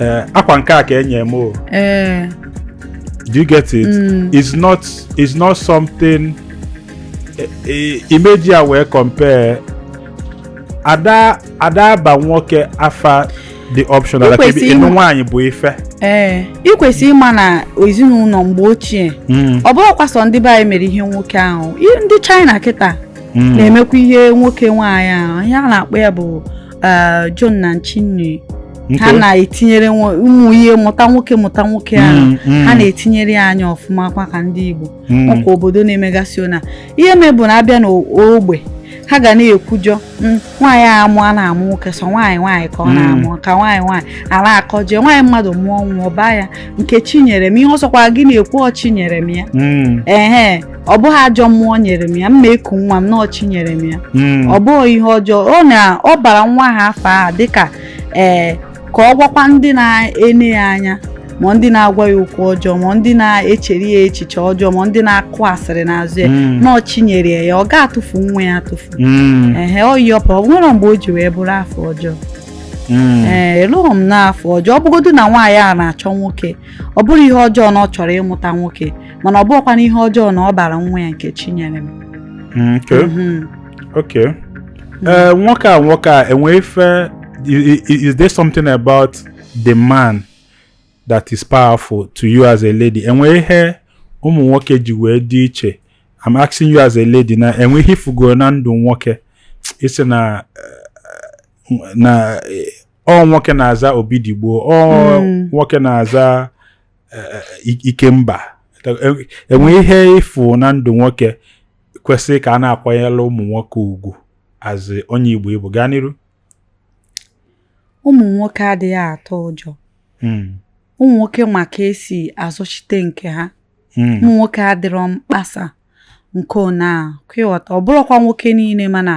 eh, akwa nke a ka enye m o ee do you get it Mm. it's not it's not something eh, eh, ị ma-eji ya wee compare ada ada aba nwoke afa dị optional like Ikwesị ịnụ ịma- nwaanyị bụ ife ee ị kwesịrị ịma na ezinụlọ mgbe ochie Mm, ọ bụrọkwa sọ ndị be anyị mere ihe nwoke ahụ I- ndị China kịta mm. na-emekwa ihe nwoke nwaanyị ahụ ihe a na-akpọ ya bụ eh, zhong nan qing nu ha na-etinyere ụmụ ihe mụta nwoke mụta nwoke ahụ mm, mm. ha na-etinyere ya anya ọfụma kwa ka ndị Igbo mm. ọkwa obodo na-emegasị ona ihe me bụ na a bịa n'ogbe ha ga na-ekwujọ hmm, nwaanyị a amụọ na-amụ nwoke sọ nwaanyị nwaanyị ka ọ hmm. na-amụ ka nwaanyị nwaanyị a na-akọjọ nwaanyị mmadụ mụọ nwa ọ baa ya Nkechinyerem ihe ọ sọkwa gị na-ekwu ọ chi nyere m ya hmm. ehe ọ bụghị ajọ mmụọ nyere m ya m ma-eku nwa m na ọ chi nyere m ya hmm. ọ bụghị ihe ọjọọ ọ na ọ bara nwa ha afa a dịka ee eh, ka ọ gwakwa ndị na-ene ya anya ma ndị na-agwa ya okwu ọjọọ ma ndị na-echere ya echiche ọjọọ ma ndị na-akụ asịrị n'azụ ya hmm. na ọ chi nyere ya ọ ga-atụfu nwa ya atụfu hmm. ehe ọ yọpụ o nwere mgbe o ji wee bụrụ afa ọjọọ Hmm. ee eh, lụrụ m na afa ọjọọ ọ bụgodu na nwaanyị a na-achọ nwoke ọ bụrọ ihe ọjọọ na ọ chọrọ ịmụta nwoke mana ọ bụghịkwanụ ihe ọjọọ na ọ bara nwa ya Nkechinyerem mm, mhm. okay mm. eh, nwoke a nwoke a e nwe ife is there something about the man that is powerful to you as a lady e nwe ihe ụmụ nwoke ji wee dị iche I'm asking you as a lady na e nwe ihe ị fụgo na ndụ nwoke ị sị na eh, na eh, ọ nwoke na-aza Obidigbo ọ hmm. nwoke na-aza Ikemba e nwe ihe ị fụ na ndụ nwoke kwesịrị ka a na-akwanyere ụmụ nwoke ugwu as onye Igbo Igbo gaa n'iru ụmụ nwoke adịghị atọ ụjọ hmm. ụmụ nwoke ma ka e si azọchite nke ha hmm. ụmụ nwoke adịrọ mkpasa nke ona kwa ị ghọta ọ bụrọkwa nwoke niile mana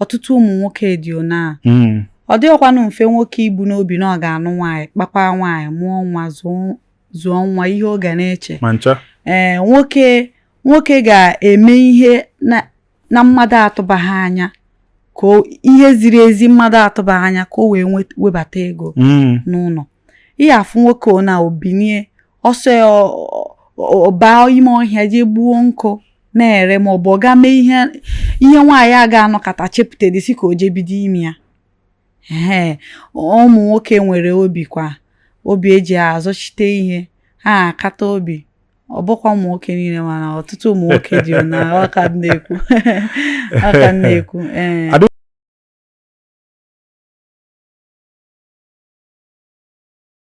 ọtụtụ ụmụ nwoke dị ona hmm. ọ dịghịkwanụ mfe nwoke ibu n'obi na ọ ga-anụ nwaanyị kpakwa nwaanyị mụọ nwa zụọ nwa ihe ọ ga na-eche ee nwoke nwoke ga-eme ihe na mmadụ atụbaghị anya ka ihe ziri ezi mmadụ atụbaghị anya ka o wee webata ego hmm. n'ụlọ ihe a fụ nwoke ona o binie ọ sọ ya ọ baa ime ọhịa jee gbuo nkụ na-ere ma ọ bụ ọ gaa mee ihe ihe nwaanyị a ga-anọkata chepụtadị sị ka o jee bido ime ya ee ụmụ nwoke nwere obi kwa obi e ji azọchite ihe ha akata obi ọ bụkwa ụmụ nwoke niile mana ọtụtụ ụmụ nwoke dị na ọka na-ekwu ọka na-ekwu ee